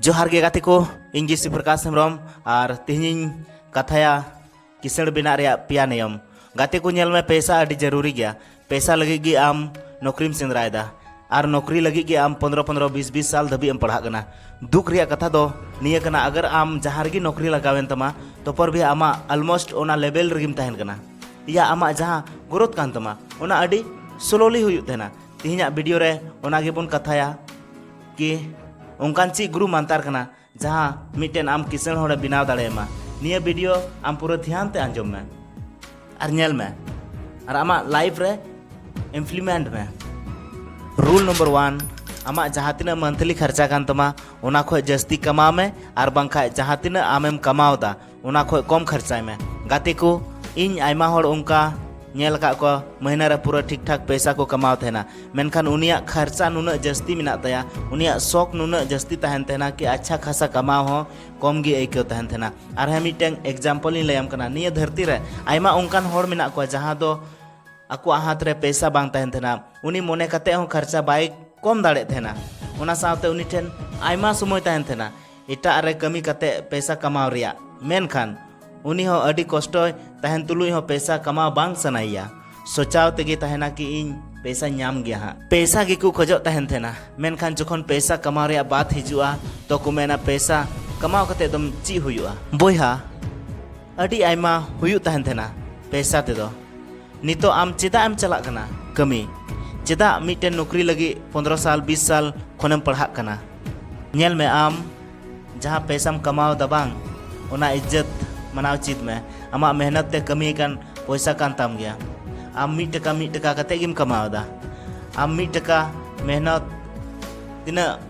ᱡᱚᱦᱟᱨ ᱜᱮ ᱜᱟᱛᱮ ᱠᱚ ᱤᱧ ᱜᱮ ᱥᱤᱯᱨᱚᱠᱟᱥ ᱦᱮᱢᱵᱨᱚᱢ ᱟᱨ ᱛᱮᱦᱮᱧᱤᱧ ᱠᱟᱛᱷᱟᱭᱟ ᱠᱤᱥᱟᱹᱬ ᱵᱮᱱᱟᱜ ᱨᱮᱭᱟᱜ ᱯᱮᱭᱟ ᱱᱤᱭᱚᱢ ᱜᱟᱛᱮ ᱠᱚ ᱧᱮᱞ ᱢᱮ ᱯᱮᱥᱟ ᱟᱹᱰᱤ ᱡᱟᱹᱨᱩᱨᱤ ᱜᱮᱭᱟ ᱯᱮᱥᱟ ᱞᱟᱹᱜᱤᱫ ᱜᱮ ᱟᱢ ᱱᱚᱠᱨᱤᱢ ᱥᱮᱸᱫᱽᱨᱟᱭᱮᱫᱟ ᱟᱨ ᱱᱚᱠᱨᱤ ᱞᱟᱹᱜᱤᱫ ᱜᱮ ᱟᱢ ᱯᱚᱱᱨᱚ ᱯᱚᱱᱨᱚ ᱵᱤᱥ ᱵᱤᱥ ᱥᱟᱞ ᱫᱷᱟᱹᱵᱤᱡ ᱮᱢ ᱯᱟᱲᱦᱟᱜ ᱠᱟᱱᱟ ᱫᱩᱠ ᱨᱮᱭᱟᱜ ᱠᱟᱛᱷᱟ ᱫᱚ ᱱᱤᱭᱟᱹ ᱠᱟᱱᱟ ᱟᱜᱟᱨ ᱟᱢ ᱡᱟᱦᱟᱸ ᱨᱮᱜᱮ ᱱᱚᱠᱨᱤ ᱞᱟᱜᱟᱣᱮᱱ ᱛᱟᱢᱟ ᱛᱚᱯᱚᱨ ᱵᱷᱤ ᱟᱢᱟᱜ ᱟᱞᱢᱳᱥᱴ ᱚᱱᱟ ᱞᱮᱵᱮᱞ ᱨᱮᱜᱮᱢ ᱛᱟᱦᱮᱱ ᱠᱟᱱᱟ ᱤᱭᱟ ᱟᱢᱟᱜ ᱡᱟᱦᱟᱸ ᱜᱨᱳᱛᱷ ᱠᱟᱱ ᱛᱟᱢᱟ ᱚᱱᱟ ᱟᱹᱰᱤ ᱥᱞᱳᱞᱤ ᱦᱩᱭᱩᱜ ᱛᱟᱦᱮᱱᱟ ᱛᱮᱦᱮᱧᱟᱜ ᱵᱷᱤᱰᱤᱭᱳ ᱨᱮ ᱚᱱᱟ ᱜᱮᱵᱚᱱ ᱠᱟᱛᱷᱟᱭᱟ ᱠᱤ ᱚᱱᱠᱟᱱ ᱪᱮᱫ ᱜᱩᱨᱩ ᱢᱟᱱᱛᱟᱨ ᱠᱟᱱᱟ ᱡᱟᱦᱟᱸ ᱢᱤᱫᱴᱮᱱ ᱟᱢ ᱠᱤᱥᱟᱹᱬ ᱦᱚᱲᱮ ᱵᱮᱱᱟᱣ ᱫᱟᱲᱮᱭᱟᱢᱟ ᱱᱤᱭᱟᱹ ᱵᱷᱤᱰᱤᱭᱳ ᱟᱢ ᱯᱩᱨᱟᱹ ᱫᱷᱮᱭᱟᱱ ᱛᱮ ᱟᱸᱡᱚᱢ ᱢᱮ ᱟᱨ ᱧᱮᱞ ᱢᱮ ᱟᱨ ᱟᱢᱟᱜ ᱞᱟᱭᱤᱯᱷ ᱨᱮ ᱤᱢᱯᱞᱤᱢᱮᱱᱴ ᱢᱮ ᱨᱩᱞ ᱱᱚᱢᱵᱚᱨ ᱣᱟᱱ ᱟᱢᱟᱜ ᱡᱟᱦᱟᱸ ᱛᱤᱱᱟᱹᱜ ᱢᱟᱱᱛᱷᱞᱤ ᱠᱷᱚᱨᱪᱟ ᱠᱟᱱ ᱛᱟᱢᱟ ᱚᱱᱟ ᱠᱷᱚᱱ ᱡᱟᱹᱥᱛᱤ ᱠᱟᱢᱟᱣ ᱢᱮ ᱟᱨ ᱵᱟᱝᱠᱷᱟᱱ ᱡᱟᱦᱟᱸ ᱛᱤᱱᱟᱹᱜ ᱟᱢᱮᱢ ᱠᱟᱢᱟᱣ ᱮᱫᱟ ᱚᱱᱟ ᱠᱷᱚᱡ ᱠᱚᱢ ᱠᱷᱚᱨᱪᱟᱭ ᱢᱮ ᱜᱟᱛᱮ ᱠᱚ ᱤᱧ ᱟᱭᱢᱟ ᱦᱚᱲ ᱚᱱᱠᱟ ᱧᱮᱞ ᱟᱠᱟᱫ ᱠᱚᱣᱟ ᱢᱟᱹᱦᱱᱟᱹ ᱨᱮ ᱯᱩᱨᱟᱹ ᱴᱷᱤᱠ ᱴᱷᱟᱠ ᱯᱚᱭᱥᱟ ᱠᱚ ᱠᱟᱢᱟᱣ ᱛᱟᱦᱮᱱᱟ ᱢᱮᱱᱠᱷᱟᱱ ᱩᱱᱤᱭᱟᱜ ᱠᱷᱚᱨᱪᱟ ᱱᱩᱱᱟᱹᱜ ᱡᱟᱹᱥᱛᱤ ᱢᱮᱱᱟᱜ ᱛᱟᱭᱟ ᱩᱱᱤᱭᱟᱜ ᱥᱚᱠ ᱱᱩᱱᱟᱹᱜ ᱡᱟᱹᱥᱛᱤ ᱛᱟᱦᱮᱱ ᱛᱟᱦᱮᱱᱟ ᱠᱤ ᱟᱪᱪᱷᱟ ᱠᱷᱟᱥᱟ ᱠᱟᱢᱟᱣ ᱦᱚᱸ ᱠᱚᱢ ᱜᱮ ᱟᱹᱭᱠᱟᱹᱣ ᱛᱟᱦᱮᱱ ᱛᱟᱦᱮᱱᱟ ᱟᱨ ᱦᱮᱸ ᱢᱤᱫᱴᱟᱝ ᱮᱠᱡᱟᱢᱯᱚᱞ ᱤᱧ ᱞᱟᱹᱭᱟᱢ ᱠᱟᱱᱟ ᱱᱤᱭᱟᱹ ᱫᱷᱟᱹᱨᱛᱤ ᱨᱮ ᱟᱭᱢᱟ ᱚᱱᱠᱟᱱ ᱦᱚᱲ ᱢᱮᱱᱟᱜ ᱠᱚᱣᱟ ᱡᱟᱦᱟᱸ ᱫᱚ ᱟᱠᱚᱣᱟᱜ ᱦᱟᱛ ᱨᱮ ᱯᱚᱭᱥᱟ ᱵᱟᱝ ᱛᱟᱦᱮᱱ ᱛᱟᱦᱮᱱᱟ ᱩᱱᱤ ᱢᱚᱱᱮ ᱠᱟᱛᱮ ᱦᱚᱸ ᱠᱷᱚᱨᱪᱟ ᱵᱟᱭ ᱠᱚᱢ ᱫᱟᱲᱮᱭᱟᱜ ᱛᱟᱦᱮᱱᱟ ᱚᱱᱟ ᱥᱟᱶᱛᱮ ᱩᱱᱤ ᱴᱷᱮᱱ ᱟᱭᱢᱟ ᱥᱚᱢᱚᱭ ᱛᱟᱦᱮᱱ ᱛᱟᱦᱮᱱᱟ ᱮᱴᱟᱜ ᱨᱮ ᱠᱟᱹᱢᱤ ᱠᱟᱛᱮ ᱯᱮᱥᱟ ᱠᱟᱢᱟᱣ ᱨᱮᱭᱟᱜ ᱢᱮᱱᱠᱷᱟᱱ ᱩᱱᱤ ᱦᱚᱸ ᱟᱹᱰᱤ ᱠᱚᱥᱴᱚᱭ ᱛᱟᱦᱮᱱ ᱛᱩᱞᱩᱡ ᱦᱚᱸ ᱯᱮᱥᱟ ᱠᱟᱢᱟᱣ ᱵᱟᱝ ᱥᱟᱱᱟᱭᱮᱭᱟ ᱥᱚᱪᱟᱣ ᱛᱮᱜᱮ ᱛᱟᱦᱮᱱᱟ ᱠᱤ ᱤᱧ ᱯᱮᱥᱟ ᱧᱟᱢ ᱜᱮᱭᱟ ᱦᱟᱸᱜ ᱯᱮᱥᱟ ᱜᱮᱠᱚ ᱠᱷᱚᱡᱚᱜ ᱛᱟᱦᱮᱱ ᱛᱟᱦᱮᱱᱟ ᱢᱮᱱᱠᱷᱟᱱ ᱡᱚᱠᱷᱚᱱ ᱯᱮᱥᱟ ᱠᱟᱢᱟᱣ ᱨᱮᱭᱟᱜ ᱵᱟᱛ ᱦᱤᱡᱩᱜᱼᱟ ᱛᱚ ᱠᱚ ᱢᱮᱱᱟ ᱯᱮᱥᱟ ᱠᱟᱢᱟᱣ ᱠᱟᱛᱮ ᱫᱚᱢ ᱪᱮᱫ ᱦᱩᱭᱩᱜᱼᱟ ᱵᱚᱭᱦᱟ ᱟᱹᱰᱤ ᱟᱭᱢᱟ ᱦᱩᱭᱩᱜ ᱛᱟᱦᱮᱱ ᱛᱟᱦᱮᱱᱟ ᱯᱮᱥᱟ ᱛᱮᱫᱚ ᱱᱤᱛᱚᱜ ᱟᱢ ᱪᱮᱫᱟᱜ ᱮᱢ ᱪᱟᱞᱟᱜ ᱠᱟᱱᱟ ᱠᱟᱹᱢᱤ ᱪᱮᱫᱟᱜ ᱢᱤᱫᱴᱮᱱ ᱱᱚᱠᱨᱤ ᱞᱟᱹᱜᱤᱫ ᱯᱚᱱᱫᱨᱚ ᱥᱟᱞ ᱵᱤᱥ ᱥᱟᱞ ᱠᱷᱚᱱᱮᱢ ᱯᱟᱲᱦᱟᱜ ᱠᱟᱱᱟ ᱧᱮᱞ ᱢᱮ ᱟᱢ ᱡᱟᱦᱟᱸ ᱯᱮᱥᱟᱢ ᱠᱟᱢᱟᱣ ᱫᱟ ᱵᱟᱝ ᱚᱱᱟ ᱤᱡᱽᱡᱚᱛ ᱢᱟᱱᱟᱣ ᱪᱮᱫ ᱢᱮ ᱟᱢᱟᱜ ᱢᱮᱦᱱᱚᱛ ᱛᱮ ᱠᱟᱹᱢᱤ ᱠᱟᱱ ᱯᱚᱭᱥᱟ ᱠᱟᱱ ᱛᱟᱢ ᱜᱮᱭᱟ ᱟᱢ ᱢᱤᱫ ᱴᱟᱠᱟ ᱢᱤᱫ ᱴᱟᱠᱟ ᱠᱟᱛᱮ ᱜᱮᱢ ᱠᱟᱢᱟᱣ ᱫᱟ ᱟᱢ ᱢᱤᱫ ᱴᱟᱠᱟ ᱢᱮᱦᱱᱚᱛ ᱛᱤᱱᱟᱹᱜ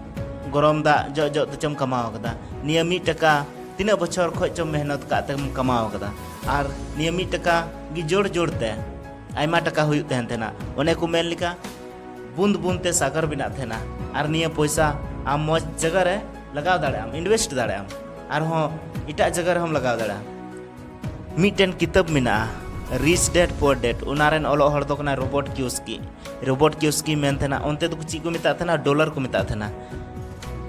ᱜᱚᱨᱚᱢ ᱫᱟᱜ ᱡᱚᱜ ᱡᱚᱜ ᱛᱮᱪᱚᱢ ᱠᱟᱢᱟᱣ ᱠᱟᱫᱟ ᱱᱤᱭᱟᱹ ᱢᱤᱫ ᱴᱟᱠᱟ ᱛᱤᱱᱟᱹᱜ ᱵᱚᱪᱷᱚᱨ ᱠᱷᱚᱡ ᱪᱚᱢ ᱢᱮᱦᱱᱚᱛ ᱠᱟᱜ ᱛᱮᱢ ᱠᱟᱢᱟᱣ ᱠᱟᱫᱟ ᱟᱨ ᱱᱤᱭᱟᱹ ᱢᱤᱫ ᱴᱟᱠᱟ ᱜᱮ ᱡᱳᱲ ᱡᱳᱲ ᱛᱮ ᱟᱭᱢᱟ ᱴᱟᱠᱟ ᱦᱩᱭᱩᱜ ᱛᱟᱦᱮᱱ ᱛᱟᱦᱮᱱᱟ ᱚᱱᱮ ᱠᱚ ᱢᱮᱱ ᱞᱮᱠᱟ ᱵᱩᱸᱫ ᱵᱩᱸᱫ ᱛᱮ ᱥᱟᱜᱚᱨ ᱵᱮᱱᱟᱜ ᱛᱟᱦᱮᱱᱟ ᱟᱨ ᱱᱤᱭᱟᱹ ᱯᱚᱭᱥᱟ ᱟᱢ ᱢᱚᱡᱽ ᱡᱟᱭᱜᱟ ᱨᱮ ᱞᱟᱜᱟᱣ ᱫᱟᱲᱮᱭᱟᱜ ᱟᱢ ᱤᱱᱵᱷᱮᱥᱴ ᱫᱟᱲᱮᱭᱟᱜ ᱟᱢ ᱟᱨᱦᱚᱸ ᱮᱴᱟᱜ ᱡᱟᱭᱜᱟ ᱨᱮᱦᱚᱸᱢ ᱞᱟᱜᱟᱣ ᱫᱟᱲᱮᱭᱟᱜᱼᱟ ᱢᱤᱫᱴᱮᱱ ᱠᱤᱛᱟᱹᱵ ᱢᱮᱱᱟᱜᱼᱟ ᱨᱤᱪ ᱰᱮᱰ ᱯᱳᱨ ᱰᱮᱰ ᱚᱱᱟ ᱨᱮᱱ ᱚᱞᱚᱜ ᱦᱚᱲ ᱫᱚ ᱠᱟᱱᱟ ᱨᱳᱵᱚᱴ ᱠᱤᱭᱳᱥᱠᱤ ᱨᱳᱵᱚᱴ ᱠᱤᱭᱳᱥᱠᱤ ᱢᱮᱱ ᱛᱟᱦᱮᱱᱟ ᱚᱱᱛᱮ ᱫᱚ ᱪᱮᱫ ᱠᱚ ᱢᱮᱛᱟᱜ ᱛᱟᱦᱮᱱᱟ ᱰᱚᱞᱟᱨ ᱠᱚ ᱢᱮᱛᱟᱜ ᱛᱟᱦᱮᱱᱟ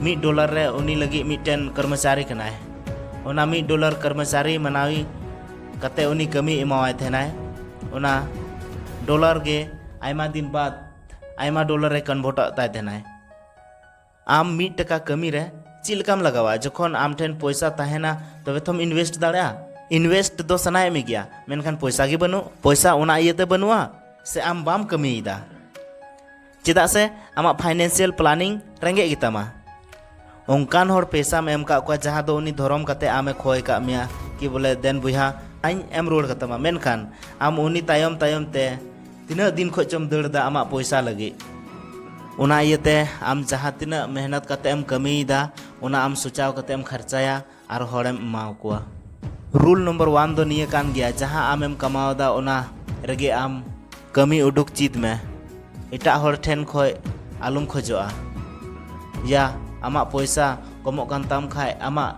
ᱢᱤᱫ ᱰᱚᱞᱟᱨ ᱨᱮ ᱩᱱᱤ ᱞᱟᱹᱜᱤᱫ ᱢᱤᱫᱴᱮᱱ ᱠᱚᱨᱢᱚᱪᱟᱨᱤ ᱠᱟᱱᱟᱭ ᱚᱱᱟ ᱢᱤᱫ ᱰᱚᱞᱟᱨ ᱠᱚᱨᱢᱚᱪᱟᱨᱤ ᱢᱟᱱᱟᱣᱤ ᱠᱟᱛᱮ ᱩᱱᱤ ᱠᱟᱹᱢᱤ ᱮᱢᱟᱣᱟᱭ ᱛᱟᱦᱮᱱᱟᱭ ᱚᱱᱟ ᱰᱚᱞᱟᱨ ᱜᱮ ᱟᱭᱢᱟ ᱫᱤᱱ ᱵᱟᱫ ᱟᱭᱢᱟ ᱰᱚᱞᱟᱨ ᱨᱮ ᱠᱚᱱᱵᱷᱚᱴᱚᱜ ᱛᱟᱭ ᱛᱟᱦᱮᱱᱟᱭ ᱟᱢ ᱢᱤᱫ ᱴᱟᱠᱟ ᱠᱟᱹᱢᱤ ᱨᱮ ᱪᱮᱫ ᱞᱮᱠᱟᱢ ᱞᱟᱜᱟᱣᱟ ᱡᱚᱠᱷᱚᱱ ᱟᱢ ᱴᱷᱮᱱ ᱯᱚᱭᱥᱟ ᱛᱟᱦᱮᱱᱟ ᱛᱚᱵᱮ ᱛᱚᱢ ᱤᱱᱵᱷᱮᱥᱴ ᱫᱟᱲᱮᱭᱟᱜᱼᱟ ᱤᱱᱵᱷᱮᱥᱴ ᱫᱚ ᱥᱟᱱᱟᱭᱮᱫ ᱢᱮ ᱜᱮᱭᱟ ᱢᱮᱱᱠᱷᱟᱱ ᱯᱚᱭᱥᱟ ᱜᱮ ᱵᱟᱹᱱᱩᱜ ᱯᱚᱭᱥᱟ ᱚᱱᱟ ᱤᱭᱟᱹᱛᱮ ᱵᱟᱹᱱᱩᱜᱼᱟ ᱥᱮ ᱟᱢ ᱵᱟᱢ ᱠᱟᱹᱢᱤᱭᱮᱫᱟ ᱪᱮᱫᱟᱜ ᱥᱮ ᱟᱢᱟᱜ ᱯᱷᱟᱭᱱᱮᱱᱥᱤᱭᱟᱞ ᱯᱞᱟᱱᱤᱝ ᱨᱮᱸᱜᱮᱡ ᱜᱮᱛᱟᱢᱟ ᱚᱱᱠᱟᱱ ᱦᱚᱲ ᱯᱮᱥᱟᱢ ᱮᱢ ᱠᱟᱜ ᱠᱚᱣᱟ ᱡᱟᱦᱟᱸ ᱫᱚ ᱩᱱᱤ ᱫᱷᱚᱨᱚᱢ ᱠᱟᱛᱮ ᱟᱢᱮ ᱠᱷᱚᱭ ᱠᱟᱜ ᱢᱮᱭᱟ ᱠᱤ ᱵᱚᱞᱮ ᱫᱮᱱ ᱵᱚᱭᱦᱟ ᱟᱹᱧ ᱮᱢ ᱨᱩᱣᱟᱹᱲ ᱠᱟᱛᱟᱢᱟ ᱢᱮᱱᱠᱷᱟᱱ ᱟᱢ ᱩᱱᱤ ᱛᱟᱭᱚᱢ ᱛᱟᱭᱚᱢ ᱛᱮ ᱛᱤᱱᱟᱹᱜ ᱫᱤᱱ ᱠᱷᱚᱡ ᱪᱚᱢ ᱫᱟᱹᱲ ᱮᱫᱟ ᱟᱢᱟᱜ ᱯᱚᱭᱥᱟ ᱞᱟᱹᱜᱤᱫ ᱚᱱᱟ ᱤᱭᱟᱹᱛᱮ ᱟᱢ ᱡᱟᱦᱟᱸ ᱛᱤᱱᱟᱹᱜ ᱢᱮᱦᱱᱚᱛ ᱠᱟᱛᱮ ᱮᱢ ᱠᱟᱹᱢᱤᱭᱮᱫᱟ ᱚᱱᱟ ᱟᱢ ᱥᱚᱪᱟᱣ ᱠᱟᱛᱮ ᱮᱢ ᱠᱷᱟᱨᱪᱟᱭᱟ ᱟᱨ ᱦᱚᱲᱮᱢ ᱮᱢᱟ ᱠᱚᱣᱟ ᱨᱩᱞ ᱱᱚᱢᱵᱚᱨ ᱣᱟᱱ ᱫᱚ ᱱᱤᱭᱟᱹ ᱠᱟᱱ ᱜᱮᱭᱟ ᱡᱟᱦᱟᱸ ᱟᱢᱮᱢ ᱠᱟᱢᱟᱣᱫᱟ ᱚᱱᱟ ᱨᱮᱜᱮ ᱟᱢ ᱠᱟᱹᱢᱤ ᱩᱰᱩᱠ ᱪᱮᱫ ᱢᱮ ᱮᱴᱟᱜ ᱦᱚᱲ ᱴᱷᱮᱱ ᱠᱷᱚᱡ ᱟᱞᱚᱢ ᱠᱷᱚᱡᱚᱜᱼᱟ ᱭᱟ ᱟᱢᱟᱜ ᱯᱚᱭᱥᱟ ᱠᱚᱢᱚᱜ ᱠᱟᱱ ᱛᱟᱢ ᱠᱷᱟᱡ ᱟᱢᱟᱜ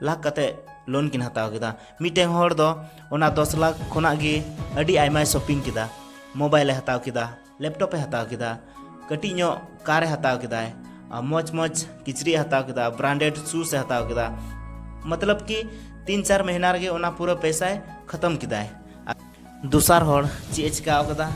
ᱞᱟᱠᱷ ᱠᱟᱛᱮ ᱞᱳᱱ ᱠᱤᱱ ᱦᱟᱛᱟᱣ ᱠᱮᱫᱟ ᱢᱤᱫᱴᱮᱱ ᱦᱚᱲ ᱫᱚ ᱚᱱᱟ ᱫᱚᱥ ᱞᱟᱠᱷ ᱠᱷᱚᱱᱟᱜ ᱜᱮ ᱟᱹᱰᱤ ᱟᱭᱢᱟᱭ ᱥᱚᱯᱤᱝ ᱠᱮᱫᱟ ᱢᱳᱵᱟᱭᱤᱞᱮ ᱦᱟᱛᱟᱣ ᱠᱮᱫᱟ ᱞᱮᱯᱴᱚᱯᱮ ᱦᱟᱛᱟᱣ ᱠᱮᱫᱟ ᱠᱟᱹᱴᱤᱡ ᱧᱚᱜ ᱠᱟᱨᱮ ᱦᱟᱛᱟᱣ ᱠᱮᱫᱟᱭ ᱢᱚᱡᱽ ᱢᱚᱡᱽ ᱠᱤᱪᱨᱤᱡ ᱦᱟᱛᱟᱣ ᱠᱮᱫᱟ ᱵᱨᱟᱱᱰᱮᱰ ᱥᱩᱥ ᱮ ᱦᱟᱛᱟᱣ ᱠᱮᱫᱟ ᱢᱚᱛᱞᱚᱵ ᱠᱤ ᱛᱤᱱ ᱪᱟᱨ ᱢᱟᱹᱦᱱᱟᱹ ᱨᱮᱜᱮ ᱚᱱᱟ ᱯᱩᱨᱟᱹ ᱯᱚᱭᱥᱟᱭ ᱠᱷᱟᱛᱚᱢ ᱠᱮᱫᱟᱭ ᱫᱚᱥᱟᱨ ᱦᱚᱲ ᱪᱮᱫ ᱮ ᱪᱤᱠᱟ ᱟᱠᱟᱫᱟ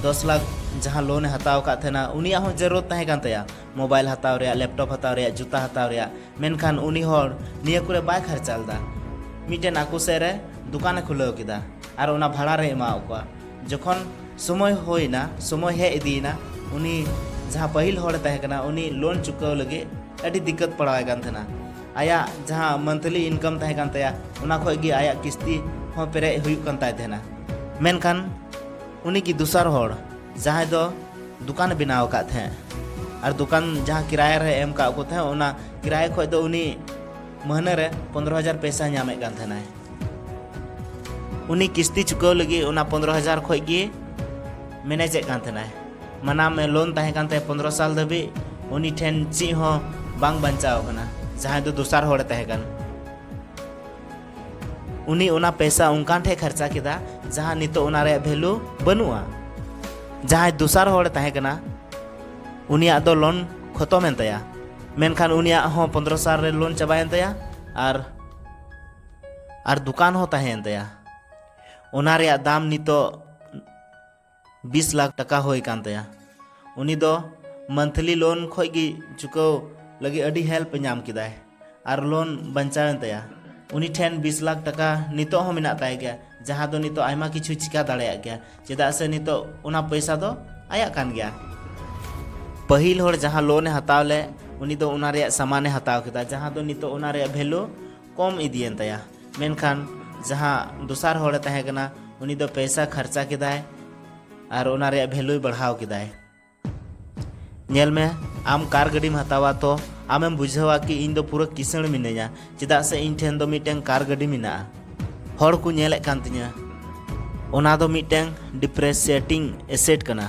ᱫᱚᱥ ᱞᱟᱠᱷ ᱡᱟᱦᱟᱸ ᱞᱳᱱ ᱮ ᱦᱟᱛᱟᱣ ᱟᱠᱟᱫ ᱛᱟᱦᱮᱱᱟ ᱩᱱᱤᱭᱟᱜ ᱦᱚᱸ ᱡᱟᱹᱨᱩᱨ ᱛᱟᱦᱮᱸ ᱠᱟᱱ ᱛᱟᱭᱟ ᱢᱳᱵᱟᱭᱤᱞ ᱦᱟᱛᱟᱣ ᱨᱮᱭᱟᱜ ᱞᱮᱯᱴᱚᱯ ᱦᱟᱛᱟᱣ ᱨᱮᱭᱟᱜ ᱡᱩᱛᱟ ᱦᱟᱛᱟᱣ ᱨᱮᱭᱟᱜ ᱢᱮᱱᱠᱷᱟᱱ ᱩᱱᱤ ᱦᱚᱲ ᱱᱤᱭᱟᱹ ᱠᱚᱨᱮ ᱵᱟᱭ ᱠᱷᱟᱨᱪᱟ ᱞᱮᱫᱟ ᱢᱤᱫᱴᱮᱱ ᱟᱠᱚ ᱥᱮᱫ ᱨᱮ ᱫᱚᱠᱟᱱ ᱮ ᱠᱷᱩᱞᱟᱹᱣ ᱠᱮᱫᱟ ᱟᱨ ᱚᱱᱟ ᱵᱷᱟᱲᱟ ᱨᱮ ᱮᱢᱟᱣ ᱠᱚᱣᱟ ᱡᱚᱠᱷᱚᱱ ᱥᱚᱢᱚᱭ ᱦᱩᱭᱱᱟ ᱥᱚᱢᱚᱭ ᱦᱮᱡ ᱤᱫᱤᱭᱮᱱᱟ ᱩᱱᱤ ᱡᱟᱦᱟᱸ ᱯᱟᱹᱦᱤᱞ ᱦᱚᱲ ᱮ ᱛᱟᱦᱮᱸ ᱠᱟᱱᱟ ᱩᱱᱤ ᱞᱳᱱ ᱪᱩᱠᱟᱹᱣ ᱞᱟᱹᱜᱤᱫ ᱟᱹᱰᱤ ᱫᱤᱠᱠᱟᱹᱛ ᱯᱟᱲᱟᱣᱟᱭ ᱠᱟᱱ ᱛᱟᱦᱮᱱᱟ ᱟᱭᱟᱜ ᱡᱟᱦᱟᱸ ᱢᱟᱱᱛᱷᱞᱤ ᱤᱱᱠᱟᱢ ᱛᱟᱦᱮᱸ ᱠᱟᱱ ᱛᱟᱭᱟ ᱚᱱᱟ ᱠᱷᱚᱡ ᱜᱮ ᱟᱭᱟᱜ ᱠᱤᱥᱛᱤ ᱦᱚᱸ ᱯᱮᱨᱮᱡ ᱦᱩᱭᱩᱜ ᱠᱟᱱ ᱛᱟᱭ ᱛᱟᱦᱮᱱᱟ ᱢᱮᱱᱠᱷᱟᱱ ᱩᱱᱤ ᱜᱮ ᱫᱚᱥᱟᱨ ᱦᱚᱲ ᱡᱟᱦᱟᱸᱭ ᱫᱚ ᱫᱚᱠᱟᱱ ᱵᱮᱱᱟᱣ ᱟᱠᱟᱫ ᱛᱟᱦᱮᱸᱫ ᱟᱨ ᱫᱚᱠᱟᱱ ᱡᱟᱦᱟᱸ ᱠᱤᱨᱟᱭᱟ ᱨᱮ ᱮᱢ ᱠᱟᱜ ᱠᱚ ᱛᱟᱦᱮᱸᱫ ᱚᱱᱟ ᱠᱤᱨᱟᱭᱟ ᱠᱷᱚᱡ ᱫᱚ ᱩᱱᱤ ᱢᱟᱹᱦᱱᱟᱹ ᱨᱮ ᱯᱚᱱᱨᱚ ᱦᱟᱡᱟᱨ ᱯᱮᱥᱟ ᱧᱟᱢᱮᱫ ᱠᱟᱱ ᱛᱟᱦᱮᱱᱟᱭ ᱩᱱᱤ ᱠᱤᱥᱛᱤ ᱪᱩᱠᱟᱹᱣ ᱞᱟᱹᱜᱤᱫ ᱚᱱᱟ ᱯᱚᱱᱨᱚ ᱦᱟᱡᱟᱨ ᱠᱷᱚᱡ ᱜᱮ ᱢᱮᱱᱮᱡᱮᱫ ᱠᱟᱱ ᱛᱟᱦᱮᱱᱟᱭ ᱢᱟᱱᱟ ᱢᱮ ᱞᱳᱱ ᱛᱟᱦᱮᱸ ᱠᱟᱱ ᱛᱟᱭᱟ ᱯᱚᱱᱫᱨᱚ ᱥᱟᱞ ᱫᱷᱟᱹᱵᱤᱡ ᱩᱱᱤ ᱴᱷᱮᱱ ᱪᱮᱫ ᱦᱚᱸ ᱵᱟᱝ ᱵᱟᱧᱪᱟᱣ ᱠᱟᱱᱟ ᱡᱟᱦᱟᱸᱭ ᱫᱚ ᱫᱚᱥᱟᱨ ᱦᱚᱲᱮ ᱛᱟᱦᱮᱸ ᱠᱟᱱᱟ ᱩᱱᱤ ᱚᱱᱟ ᱯᱮᱥᱟ ᱚᱱᱠᱟᱱ ᱴᱷᱮᱱ ᱠᱷᱚᱨᱪᱟ ᱠᱮᱫᱟ ᱡᱟᱦᱟᱸ ᱱᱤᱛᱚᱜ ᱚᱱᱟ ᱨᱮᱭᱟᱜ ᱵᱷᱮᱞᱩ ᱵᱟᱹᱱᱩᱜᱼᱟ ᱡᱟᱦᱟᱸᱭ ᱫᱚᱥᱟᱨ ᱦᱚᱲᱮ ᱛᱟᱦᱮᱸ ᱠᱟᱱᱟ ᱩᱱᱤᱭᱟᱜ ᱫᱚ ᱞᱳᱱ ᱠᱷᱚᱛᱚᱢᱮᱱ ᱛᱟᱭᱟ ᱢᱮᱱᱠᱷᱟᱱ ᱩᱱᱤᱭᱟᱜ ᱦᱚᱸ ᱯᱚᱱᱫᱨᱚ ᱥᱟᱞ ᱨᱮ ᱞᱳᱱ ᱪᱟᱵᱟᱭᱮᱱ ᱛᱟᱭᱟ ᱟᱨ ᱟᱨ ᱫᱚᱠᱟᱱ ᱦᱚᱸ ᱛᱟᱦᱮᱸᱭᱮᱱ ᱛᱟᱭᱟ ᱚᱱᱟ ᱨᱮᱭᱟᱜ ᱫᱟᱢ ᱱᱤᱛᱚᱜ ᱵᱤᱥ ᱞᱟᱠᱷ ᱴᱟᱠᱟ ᱦᱩᱭ ᱠᱟᱱ ᱛᱟᱭᱟ ᱩᱱᱤ ᱫᱚ ᱢᱟᱱᱛᱷᱞᱤ ᱞᱳᱱ ᱠᱷᱚᱡ ᱜᱮ ᱪᱩᱠᱟᱹᱣ ᱞᱟᱹᱜᱤᱫ ᱟᱹᱰᱤ ᱦᱮᱞᱯ ᱧᱟᱢ ᱠᱮᱫᱟᱭ ᱟᱨ ᱞᱳᱱ ᱵᱟᱧᱪᱟᱣᱮᱱ ᱛᱟᱭᱟ ᱩᱱᱤ ᱴᱷᱮᱱ ᱵᱤᱥ ᱞᱟᱠᱷ ᱴᱟᱠᱟ ᱱᱤᱛᱚᱜ ᱦᱚᱸ ᱢᱮᱱᱟᱜ ᱛᱟᱭ ᱜᱮᱭᱟ ᱡᱟᱦᱟᱸ ᱫᱚ ᱱᱤᱛᱚᱜ ᱟᱭᱢᱟ ᱠᱤᱪᱷᱩ ᱪᱤᱠᱟ ᱫᱟᱲᱮᱭᱟᱜ ᱜᱮᱭᱟ ᱪᱮᱫᱟᱜ ᱥᱮ ᱱᱤᱛᱚᱜ ᱚᱱᱟ ᱯᱚᱭᱥᱟ ᱫᱚ ᱟᱭᱟᱜ ᱠᱟᱱ ᱜᱮᱭᱟ ᱯᱟᱹᱦᱤᱞ ᱦᱚᱲ ᱡᱟᱦᱟᱸ ᱞᱳᱱᱮ ᱦᱟᱛᱟᱣ ᱞᱮᱫ ᱩᱱᱤ ᱫᱚ ᱚᱱᱟ ᱨᱮᱭᱟᱜ ᱥᱟᱢᱟᱱᱮ ᱦᱟᱛᱟᱣ ᱠᱮᱫᱟ ᱡᱟᱦᱟᱸ ᱫᱚ ᱱᱤᱛᱚᱜ ᱚᱱᱟ ᱨᱮᱭᱟᱜ ᱵᱷᱮᱞᱩ ᱠᱚᱢ ᱤᱫᱤᱭᱮᱱ ᱛᱟᱭᱟ ᱢᱮᱱᱠᱷᱟᱱ ᱡᱟᱦᱟᱸ ᱫᱚᱥᱟᱨ ᱦᱚᱲᱮ ᱛᱟᱦᱮᱸ ᱠᱟᱱᱟ ᱩᱱᱤ ᱫᱚ ᱯᱮᱭᱥᱟ ᱠᱷᱟᱨᱪᱟ ᱠᱮᱫᱟᱭ ᱟᱨ ᱚᱱᱟ ᱨᱮᱭᱟᱜ ᱵᱷᱮᱞᱩᱭ ᱵᱟᱲᱦᱟᱣ ᱠᱮᱫᱟᱭ ᱧᱮᱞ ᱢᱮ ᱟᱢ ᱠᱟᱨ ᱜᱟᱹᱰᱤᱢ ᱦᱟᱛᱟᱣᱟ ᱛᱚ ᱟᱢᱮᱢ ᱵᱩᱡᱷᱟᱹᱣᱟ ᱠᱤ ᱤᱧ ᱫᱚ ᱯᱩᱨᱟᱹ ᱠᱤᱥᱟᱹᱬ ᱢᱤᱱᱟᱹᱧᱟ ᱪᱮᱫᱟᱜ ᱥᱮ ᱤᱧ ᱴᱷᱮᱱ ᱫᱚ ᱢᱤᱫᱴᱮᱱ ᱠᱟᱨ ᱜᱟᱹᱰᱤ ᱢᱮᱱᱟᱜᱼᱟ ᱦᱚᱲ ᱠᱚ ᱧᱮᱞᱮᱫ ᱠᱟᱱ ᱛᱤᱧᱟᱹ ᱚᱱᱟ ᱫᱚ ᱢᱤᱫᱴᱮᱱ ᱰᱤᱯᱨᱮᱥᱮᱴᱤᱝ ᱮᱥᱮᱴ ᱠᱟᱱᱟ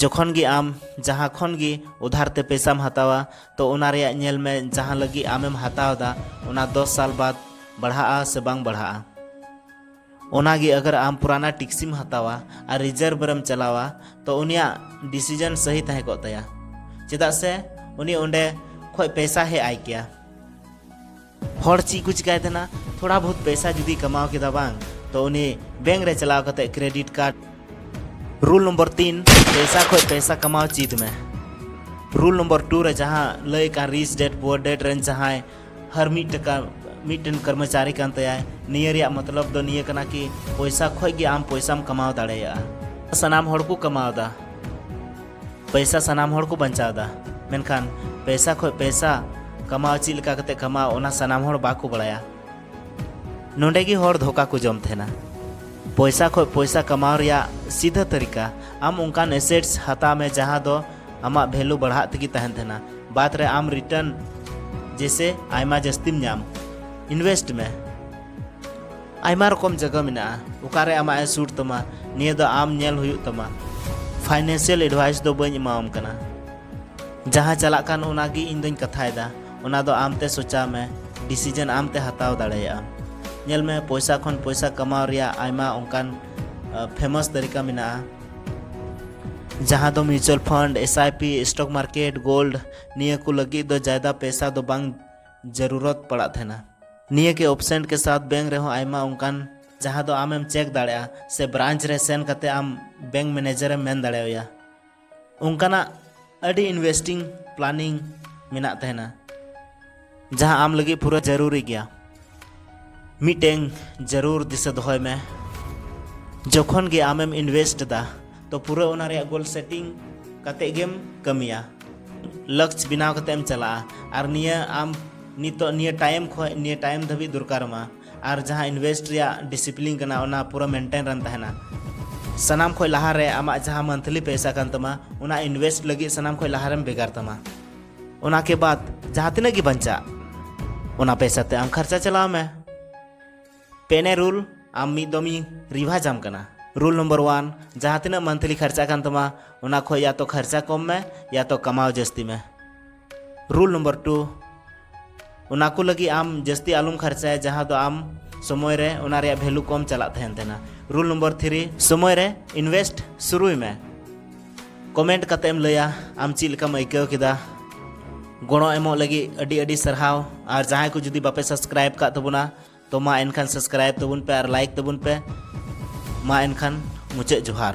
ᱡᱚᱠᱷᱚᱱ ᱜᱮ ᱟᱢ ᱡᱟᱦᱟᱸ ᱠᱷᱚᱱ ᱜᱮ ᱩᱫᱷᱟᱨ ᱛᱮ ᱯᱮᱥᱟᱢ ᱦᱟᱛᱟᱣᱟ ᱛᱚ ᱚᱱᱟ ᱨᱮᱭᱟᱜ ᱧᱮᱞ ᱢᱮ ᱡᱟᱦᱟᱸ ᱞᱟᱹᱜᱤᱫ ᱟᱢᱮᱢ ᱦᱟᱛᱟᱣ ᱮᱫᱟ ᱚᱱᱟ ᱫᱚᱥ ᱥᱟᱞ ᱵᱟᱫ ᱵᱟᱲᱦᱟᱜᱼᱟ ᱥᱮ ᱵᱟᱝ ᱵᱟᱲᱦᱟᱜᱼᱟ ᱚᱱᱟᱜᱮ ᱟᱜᱟᱨ ᱟᱢ ᱯᱩᱨᱟᱱᱟ ᱴᱮᱠᱥᱤᱢ ᱦᱟᱛᱟᱣᱟ ᱟᱨ ᱨᱤᱡᱟᱨᱵᱷ ᱨᱮᱢ ᱪᱟᱞᱟᱣᱟ ᱛᱚ ᱩᱱᱤᱭᱟᱜ ᱰᱤᱥᱤᱡᱚᱱ ᱥᱟᱹᱦᱤ ᱛᱟᱦᱮᱸ ᱠᱚᱜ ᱛᱟᱭᱟ ᱪᱮᱫᱟᱜ ᱥᱮ ᱩᱱᱤ ᱚᱸᱰᱮ ᱠᱷᱚᱡ ᱯᱮᱥᱟ ᱦᱮᱡ ᱟᱭ ᱠᱮᱭᱟ ᱦᱚᱲ ᱪᱮᱫ ᱠᱚ ᱪᱤᱠᱟᱭ ᱛᱟᱦᱮᱱᱟ ᱛᱷᱚᱲᱟ ᱵᱚᱦᱩᱛ ᱯᱮᱥᱟ ᱡᱩᱫᱤ ᱠᱟᱢᱟᱣ ᱠᱮᱫᱟ ᱵᱟᱝ ᱛᱚ ᱩᱱᱤ ᱵᱮᱝᱠ ᱨᱮ ᱪᱟᱞᱟᱣ ᱠᱟᱛᱮ ᱠᱨᱮᱰᱤᱴ ᱠᱟᱨᱰ ᱨᱩᱞ ᱱᱚᱢᱵᱚᱨ ᱛᱤᱱ ᱯᱮᱥᱟ ᱠᱷᱚᱡ ᱯᱮᱥᱟ ᱠᱟᱢᱟᱣ ᱪᱮᱫ ᱢᱮ ᱨᱩᱞ ᱱᱚᱢᱵᱚᱨ ᱴᱩ ᱨᱮ ᱡᱟᱦᱟᱸ ᱞᱟᱹᱭ ᱠᱟᱱ ᱨᱤᱪ ᱰᱮᱰ ᱯᱩᱣᱟᱨ ᱰᱮᱰ ᱨᱮᱱ ᱡᱟᱦᱟᱸᱭ ᱦᱟᱨ ᱢᱤᱫ ᱴᱟᱠᱟ ᱢᱤᱫᱴᱮᱱ ᱠᱚᱨᱢᱚᱪᱟᱨᱤ ᱠᱟᱱ ᱛᱟᱭᱟᱭ ᱱᱤᱭᱟᱹ ᱨᱮᱭᱟᱜ ᱢᱚᱛᱞᱚᱵ ᱫᱚ ᱱᱤᱭᱟᱹ ᱠᱟᱱᱟ ᱠᱤ ᱯᱚᱭᱥᱟ ᱠᱷᱚᱡ ᱜᱮ ᱟᱢ ᱯᱚᱭᱥᱟᱢ ᱠᱟᱢᱟᱣ ᱫᱟᱲᱮᱭᱟᱜᱼᱟ ᱥᱟᱱᱟᱢ ᱦᱚᱲ ᱠᱚ ᱠᱟᱢᱟᱣ ᱮᱫᱟ ᱯᱮᱥᱟ ᱥᱟᱱᱟᱢ ᱦᱚᱲ ᱠᱚ ᱵᱟᱧᱪᱟᱣ ᱮᱫᱟ ᱢᱮᱱᱠᱷᱟᱱ ᱯᱮᱥᱟ ᱠᱷᱚᱱ ᱯᱮᱥᱟ ᱠᱟᱢᱟᱣ ᱪᱮᱫ ᱞᱮᱠᱟ ᱠᱟᱛᱮ ᱠᱟᱢᱟᱣ ᱚᱱᱟ ᱥᱟᱱᱟᱢ ᱦᱚᱲ ᱵᱟᱠᱚ ᱵᱟᱲᱟᱭᱟ ᱱᱚᱰᱮ ᱜᱮ ᱦᱚᱲ ᱫᱷᱳᱠᱟ ᱠᱚ ᱡᱚᱢ ᱛᱟᱦᱮᱱᱟ ᱯᱚᱭᱥᱟ ᱠᱷᱚᱱ ᱯᱚᱭᱥᱟ ᱠᱟᱢᱟᱣ ᱨᱮᱭᱟᱜ ᱥᱤᱫᱷᱟ ᱛᱟᱹᱨᱤᱠᱟ ᱟᱢ ᱚᱱᱠᱟᱱ ᱮᱥᱮᱴᱥ ᱦᱟᱛᱟᱣ ᱢᱮ ᱡᱟᱦᱟᱸ ᱫᱚ ᱟᱢᱟᱜ ᱵᱷᱮᱞᱩ ᱵᱟᱲᱦᱟᱜ ᱛᱮᱜᱮ ᱛᱟᱦᱮᱱ ᱛᱟᱦᱮᱱᱟ ᱵᱟᱫᱽ ᱨᱮ ᱟᱢ ᱨᱤᱴᱟᱨᱱ ᱡᱮᱥᱮ ᱟᱭᱢᱟ ᱡᱟᱹᱥᱛᱤᱢ ᱧᱟᱢ ᱤᱱᱵᱷᱮᱥᱴ ᱢᱮ ᱟᱭᱢᱟ ᱨᱚᱠᱚᱢ ᱡᱟᱭᱜᱟ ᱢᱮᱱᱟᱜᱼᱟ ᱚᱠᱟᱨᱮ ᱟᱢᱟᱜ ᱮ ᱥᱩᱴ ᱛᱟᱢᱟ ᱱᱤᱭᱟᱹ ᱫᱚ ᱟᱢ ᱧᱮᱞ ᱦᱩᱭᱩᱜ ᱛᱟᱢᱟ ᱯᱷᱟᱭᱱᱮᱱᱥᱤᱭᱟᱞ ᱮᱰᱵᱷᱟᱭᱤᱥ ᱫᱚ ᱵᱟᱹᱧ ᱮᱢᱟᱣᱟᱢ ᱠᱟᱱᱟ ᱡᱟᱦᱟᱸ ᱪᱟᱞᱟᱜ ᱠᱟᱱ ᱚᱱᱟ ᱜᱮ ᱤᱧ ᱫᱚᱧ ᱠᱟᱛᱷᱟᱭᱮᱫᱟ ᱚᱱᱟ ᱫᱚ ᱟᱢ ᱛᱮ ᱥᱚᱪᱟᱣ ᱢᱮ ᱰᱤᱥᱤᱡᱚᱱ ᱟᱢ ᱛᱮ ᱦᱟᱛᱟᱣ ᱫᱟᱲᱮᱭᱟᱜᱼᱟ ᱧᱮᱞ ᱢᱮ ᱯᱚᱭᱥᱟ ᱠᱷᱚᱱ ᱯᱚᱭᱥᱟ ᱠᱟᱢᱟᱣ ᱨᱮᱭᱟᱜ ᱟᱭᱢᱟ ᱚᱱᱠᱟᱱ ᱯᱷᱮᱢᱟᱥ ᱛᱟᱹᱨᱤᱠᱟ ᱢᱮᱱᱟᱜᱼᱟ ᱡᱟᱦᱟᱸ ᱫᱚ mutual fund S I P stock market gold ᱱᱤᱭᱟᱹ ᱠᱚ ᱞᱟᱹᱜᱤᱫ ᱫᱚ ᱡᱟᱭᱫᱟ ᱯᱚᱭᱥᱟ ᱫᱚ ᱵᱟᱝ ᱡᱟᱹᱨᱩᱨᱚᱛ ᱯᱟᱲᱟᱜ ᱛᱟᱦᱮᱱᱟ ᱱᱤᱭᱟᱹ ᱜᱮ ᱚᱯᱥᱮᱱᱴ ᱠᱮ ᱥᱟᱛ ᱵᱮᱝᱠ ᱨᱮᱦᱚᱸ ᱟᱭᱢᱟ ᱚᱱᱠᱟᱱ ᱡᱟᱦᱟᱸ ᱫᱚ ᱟᱢᱮᱢ ᱪᱮᱠ ᱫᱟᱲᱮᱭᱟᱜᱼᱟ ᱥᱮ ᱵᱨᱟᱱᱪ ᱨᱮ ᱥᱮᱱ ᱠᱟᱛᱮ ᱟᱢ ᱵᱮᱝᱠ ᱢᱮᱱᱮᱡᱟᱨᱮᱢ ᱢᱮᱱ ᱫᱟᱲᱮᱣᱟᱭᱟ ᱚᱱᱠᱟᱱᱟᱜ ᱟᱹᱰᱤ ᱤᱱᱵᱷᱮᱥᱴᱤᱝ ᱯᱞᱟᱱᱤᱝ ᱢᱮᱱᱟᱜ ᱛᱟᱦᱮᱱᱟ ᱡᱟᱦᱟᱸ ᱟᱢ ᱞᱟᱹᱜᱤᱫ ᱯᱩᱨᱟᱹ ᱡᱟᱹᱨᱩᱨᱤ ᱜᱮᱭᱟ ᱢᱤᱫᱴᱮᱱ ᱡᱟᱹᱨᱩᱨ ᱫᱤᱥᱟᱹ ᱫᱚᱦᱚᱭ ᱢᱮ ᱡᱚᱠᱷᱚᱱ ᱜᱮ ᱟᱢᱮᱢ ᱤᱱᱵᱷᱮᱥᱴ ᱮᱫᱟ ᱛᱚ ᱯᱩᱨᱟᱹ ᱚᱱᱟ ᱨᱮᱭᱟᱜ ᱜᱳᱞ ᱥᱮᱴᱤᱝ ᱠᱟᱛᱮ ᱜᱮᱢ ᱠᱟᱹᱢᱤᱭᱟ ᱞᱚᱠᱥ ᱵᱮᱱᱟᱣ ᱠᱟᱛᱮ ᱮᱢ ᱪᱟᱞᱟᱜᱼᱟ ᱟᱨ ᱱᱤᱭᱟᱹ ᱟᱢ ᱱᱤᱛᱚᱜ ᱱᱤᱭᱟᱹ ᱴᱟᱭᱤᱢ ᱠᱷᱚᱱ ᱱᱤᱭᱟᱹ ᱴᱟᱭᱤᱢ ᱫᱷᱟᱹᱵᱤᱡ ᱫᱚᱨᱠᱟᱨᱟᱢᱟ ᱟᱨ ᱡᱟᱦᱟᱸ ᱤᱱᱵᱷᱮᱥᱴ ᱨᱮᱭᱟᱜ ᱰᱤᱥᱤᱯᱞᱤᱱ ᱠᱟᱱᱟ ᱚᱱᱟ ᱯᱩᱨᱟᱹ ᱢᱮᱱᱴᱮᱱ ᱨᱮᱢ ᱛᱟᱦᱮᱱᱟ ᱥᱟᱱᱟᱢ ᱠᱷᱚᱱ ᱞᱟᱦᱟᱨᱮ ᱟᱢᱟᱜ ᱡᱟᱦᱟᱸ ᱢᱟᱱᱛᱷᱞᱤ ᱯᱚᱭᱥᱟ ᱠᱟᱱ ᱛᱟᱢᱟ ᱚᱱᱟ ᱤᱱᱵᱷᱮᱥᱴ ᱞᱟᱹᱜᱤᱫ ᱥᱟᱱᱟᱢ ᱠᱷᱚᱱ ᱞᱟᱦᱟᱨᱮᱢ ᱵᱷᱮᱜᱟᱨ ᱛᱟᱢᱟ ᱚᱱᱟ ᱠᱮ ᱵᱟᱫ ᱡᱟᱦᱟᱸ ᱛᱤᱱᱟᱹᱜ ᱜᱮ ᱵᱟᱧᱪᱟᱜ ᱚᱱᱟ ᱯᱮᱥᱟ ᱛᱮ ᱟᱢ ᱠᱷᱟᱨᱪᱟ ᱪᱟᱞᱟᱣ ᱢᱮ ᱯᱮᱱᱮ ᱨᱩᱞ ᱟᱢ ᱢᱤᱫ ᱫᱚᱢᱤ ᱨᱤᱵᱷᱟᱡᱽ ᱟᱢ ᱠᱟᱱᱟ ᱨᱩᱞ ᱱᱚᱢᱵᱚᱨ ᱣᱟᱱ ᱡᱟᱦᱟᱸ ᱛᱤᱱᱟᱹᱜ ᱢᱟᱱᱛᱷᱞᱤ ᱠᱷᱟᱨᱪᱟ ᱠᱟᱱ ᱛᱟᱢᱟ ᱚᱱᱟ ᱠᱷᱚᱡ ᱭᱟ ᱛᱚ ᱠᱷᱟᱨᱪᱟ ᱠᱚᱢ ᱢᱮ ᱭᱟ ᱛᱚ ᱠᱟᱢᱟᱣ ᱡᱟᱹᱥᱛᱤ ᱢᱮ ᱨᱩᱞ ᱱᱚᱢᱵᱚᱨ ᱴᱩ ᱚᱱᱟ ᱠᱚ ᱞᱟᱹᱜᱤᱫ ᱟᱢ ᱡᱟᱹᱥᱛᱤ ᱟᱞᱚᱢ ᱠᱷᱟᱨᱪᱟᱭᱟ ᱡᱟᱦᱟᱸ ᱫᱚ ᱟᱢ ᱥᱚᱢᱚᱭ ᱨᱮ ᱚᱱᱟ ᱨᱮᱭᱟᱜ ᱵᱷᱮᱞᱩ ᱠᱚᱢ ᱪᱟᱞᱟᱜ ᱛᱟᱦᱮᱱ ᱛᱟᱦᱮᱱᱟ ᱨᱩᱞ ᱱᱚᱢᱵᱚᱨ ᱛᱷᱨᱤ ᱥᱚᱢᱚᱭ ᱨᱮ ᱤᱱᱵᱷᱮᱥᱴ ᱥᱩᱨᱩᱭ ᱢᱮ ᱠᱚᱢᱮᱱᱴ ᱠᱟᱛᱮ ᱮᱢ ᱞᱟᱹᱭᱟ ᱟᱢ ᱪᱮᱫ ᱞᱮᱠᱟᱢ ᱟᱹᱭᱠᱟᱹᱣ ᱠᱮᱫᱟ ᱜᱚᱲᱚ ᱮᱢᱚᱜ ᱞᱟᱹᱜᱤᱫ ᱟᱹᱰᱤ ᱟᱹᱰᱤ ᱥᱟᱨᱦᱟᱣ ᱟᱨ ᱡᱟᱦᱟᱸᱭ ᱠᱚ ᱡᱩᱫᱤ ᱵᱟᱯᱮ ᱥᱟᱵᱥᱠᱨᱟᱭᱤᱵ ᱠᱟᱜ ᱛᱟᱵᱚᱱᱟ ᱛᱚ ᱢᱟ ᱮᱱᱠᱷᱟᱱ ᱥᱟᱵᱥᱠᱨᱟᱭᱤᱵ ᱛᱟᱵᱚᱱ ᱯᱮ ᱟᱨ ᱞᱟᱭᱤᱠ ᱛᱟᱵᱚᱱ ᱯᱮ ᱢᱟ ᱮᱱᱠᱷᱟᱱ ᱢᱩᱪᱟᱹᱫ ᱡᱚᱦᱟᱨ